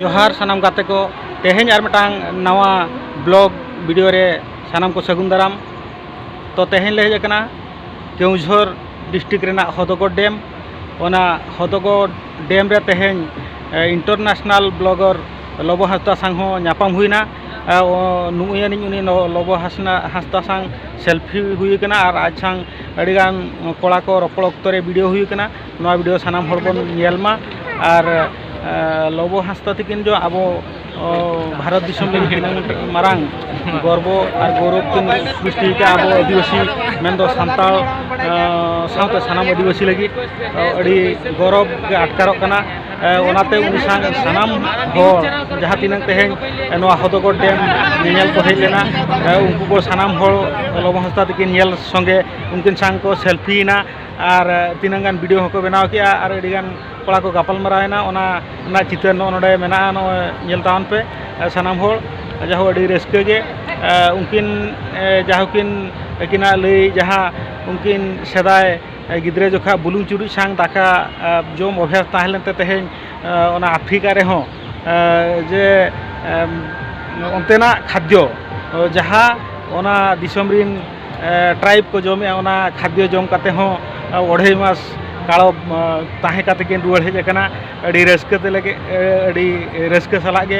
ᱡᱚᱦᱟᱨ ᱥᱟᱱᱟᱢ ᱜᱟᱛᱮ ᱠᱚ ᱛᱮᱦᱮᱧ ᱟᱨ ᱢᱤᱫᱴᱟᱝ ᱱᱟᱣᱟ ᱵᱞᱚᱜ ᱵᱷᱤᱰᱤᱭᱳ ᱨᱮ ᱥᱟᱱᱟᱢ ᱠᱚ ᱥᱟᱹᱜᱩᱱ ᱫᱟᱨᱟᱢ ᱛᱚ ᱛᱮᱦᱮᱧ ᱞᱮ ᱦᱮᱡ ᱟᱠᱟᱱᱟ ᱠᱮᱣᱡᱷᱚᱨ ᱰᱤᱥᱴᱨᱤᱠ ᱨᱮᱱᱟᱜ ᱦᱚᱫᱚᱜᱚᱰ ᱰᱮᱢ ᱚᱱᱟ ᱦᱚᱫᱚᱜᱚᱰ ᱰᱮᱢ ᱨᱮ ᱛᱮᱦᱮᱧ ᱤᱱᱴᱟᱨᱱᱮᱥᱱᱟᱞ ᱵᱞᱚᱜᱚᱨ ᱞᱚᱵᱚ ᱦᱟᱸᱥᱫᱟ ᱥᱟᱝ ᱦᱚᱸ ᱧᱟᱯᱟᱢ ᱦᱩᱭᱱᱟ ᱱᱩᱭ ᱟᱹᱱᱤᱡ ᱩᱱᱤ ᱞᱚᱵᱚ ᱦᱟᱸᱥᱱᱟ ᱦᱟᱸᱥᱫᱟ ᱥᱟᱝ ᱥᱮᱞᱯᱷᱤ ᱦᱩᱭ ᱟᱠᱟᱱᱟ ᱟᱨ ᱟᱡ ᱥᱟᱝ ᱟᱹᱰᱤᱜᱟᱱ ᱠᱚᱲᱟ ᱠᱚ ᱨᱚᱯᱚᱲ ᱚᱠᱛᱚ ᱨᱮ ᱵᱷᱤᱰᱤᱭᱳ ᱦᱩᱭ ᱟᱠᱟᱱᱟ ᱱᱚᱣᱟ ᱵᱷᱤᱰᱤᱭᱳ ᱥᱟᱱᱟᱢ ᱦᱚᱲ ᱵᱚᱱ ᱧᱮᱞ ᱢᱟ ᱟᱨ ᱞᱚᱵᱚ ᱦᱟᱸᱥᱫᱟ ᱛᱟᱹᱠᱤᱱ ᱫᱚ ᱟᱵᱚ ᱵᱷᱟᱨᱚᱛ ᱫᱤᱥᱚᱢ ᱞᱟᱹᱜᱤᱫ ᱛᱤᱱᱟᱹᱝ ᱢᱟᱨᱟᱝ ᱜᱚᱨᱵᱚ ᱟᱨ ᱜᱚᱨᱚᱵ ᱠᱤᱱ ᱥᱨᱤᱥᱴᱤ ᱟᱠᱟᱫᱼᱟ ᱟᱵᱚ ᱟᱹᱫᱤᱵᱟᱹᱥᱤ ᱢᱮᱱᱫᱚ ᱥᱟᱱᱛᱟᱲ ᱥᱟᱶᱛᱮ ᱥᱟᱱᱟᱢ ᱟᱹᱫᱤᱵᱟᱹᱥᱤ ᱞᱟᱹᱜᱤᱫ ᱟᱹᱰᱤ ᱜᱚᱨᱚᱵ ᱜᱮ ᱟᱴᱠᱟᱨᱚᱜ ᱠᱟᱱᱟ ᱚᱱᱟᱛᱮ ᱩᱱᱤ ᱥᱟᱶ ᱥᱟᱱᱟᱢ ᱦᱚᱲ ᱡᱟᱦᱟᱸ ᱛᱤᱱᱟᱹᱝ ᱛᱮᱦᱮᱧ ᱱᱚᱣᱟ ᱦᱚᱫᱚᱜᱚᱲ ᱰᱮᱢ ᱧᱮᱧᱮᱞ ᱠᱚ ᱦᱮᱡ ᱞᱮᱱᱟ ᱩᱱᱠᱩ ᱠᱚ ᱥᱟᱱᱟᱢ ᱦᱚᱲ ᱞᱚᱵᱚ ᱦᱟᱸᱥᱫᱟ ᱛᱟᱹᱠᱤᱱ ᱧᱮᱞ ᱥᱚᱸᱜᱮ ᱩᱱᱠᱤᱱ ᱥᱟᱶ ᱠᱚ ᱥᱮᱞᱯᱷᱤᱭᱮᱱᱟ ᱟᱨ ᱛᱤᱱᱟᱹᱝ ᱜᱟᱱ ᱵᱤᱰᱤᱭᱳ ᱦᱚᱸᱠᱚ ᱵᱮᱱᱟᱣ ᱠᱮᱜᱼᱟ ᱟᱨ ᱟᱹᱰᱤ ᱜᱟᱱ ᱠᱚᱲᱟ ᱠᱚ ᱜᱟᱯᱟᱞ ᱢᱟᱨᱟᱣ ᱮᱱᱟ ᱚᱱᱟ ᱨᱮᱱᱟᱜ ᱪᱤᱛᱟᱹᱨ ᱱᱚᱜᱼᱚᱸᱭ ᱱᱚᱰᱮ ᱢᱮᱱᱟᱜᱼᱟ ᱱᱚᱜᱼᱚᱸᱭ ᱧᱮᱞ ᱛᱟᱵᱚᱱ ᱯᱮ ᱥᱟᱱᱟᱢ ᱦᱚᱲ ᱡᱟᱭᱦᱳᱠ ᱟᱹᱰᱤ ᱨᱟᱹᱥᱠᱟᱹ ᱜᱮ ᱩᱱᱠᱤᱱ ᱡᱟᱭᱦᱳᱠ ᱠᱤᱱ ᱟᱹᱠᱤᱱᱟᱜ ᱞᱟᱹᱭ ᱡᱟᱦᱟᱸ ᱩᱱᱠᱤᱱ ᱥᱮᱫᱟᱭ ᱜᱤᱫᱽᱨᱟᱹ ᱡᱚᱠᱷᱟᱡ ᱵᱩᱞᱩᱝ ᱪᱩᱨᱩᱡ ᱥᱟᱝ ᱫᱟᱠᱟ ᱡᱚᱢ ᱚᱵᱷᱟᱥ ᱛᱟᱦᱮᱸ ᱞᱮᱱ ᱛᱮ ᱛᱮᱦᱮᱧ ᱚᱱᱟ ᱟᱯᱷᱨᱤᱠᱟ ᱨᱮᱦᱚᱸ ᱡᱮ ᱚᱱᱛᱮᱱᱟᱜ ᱠᱷᱟᱫᱽᱫᱚ ᱡᱟᱦᱟᱸ ᱚᱱᱟ ᱫᱤᱥᱚᱢ ᱨᱤᱱ ᱴᱨᱟᱭᱤᱵᱽ ᱠᱚ ᱡᱚᱢᱮᱜᱼᱟ ᱚᱱᱟ ᱠᱷᱟᱫᱽᱭᱚ ᱡᱚᱢ ᱠᱟᱛᱮ ᱦᱚᱸ ᱚᱲᱦᱟᱹᱭ ᱢᱟᱥ ᱠᱟᱲᱚ ᱛᱟᱦᱮᱸ ᱠᱟᱛᱮ ᱠᱤᱱ ᱨᱩᱣᱟᱹᱲ ᱦᱮᱡ ᱠᱟᱱᱟ ᱟᱹᱰᱤ ᱨᱟᱹᱥᱠᱟᱹ ᱛᱮᱞᱮ ᱟᱹᱰᱤ ᱨᱟᱹᱥᱠᱟᱹ ᱥᱟᱞᱟᱜ ᱜᱮ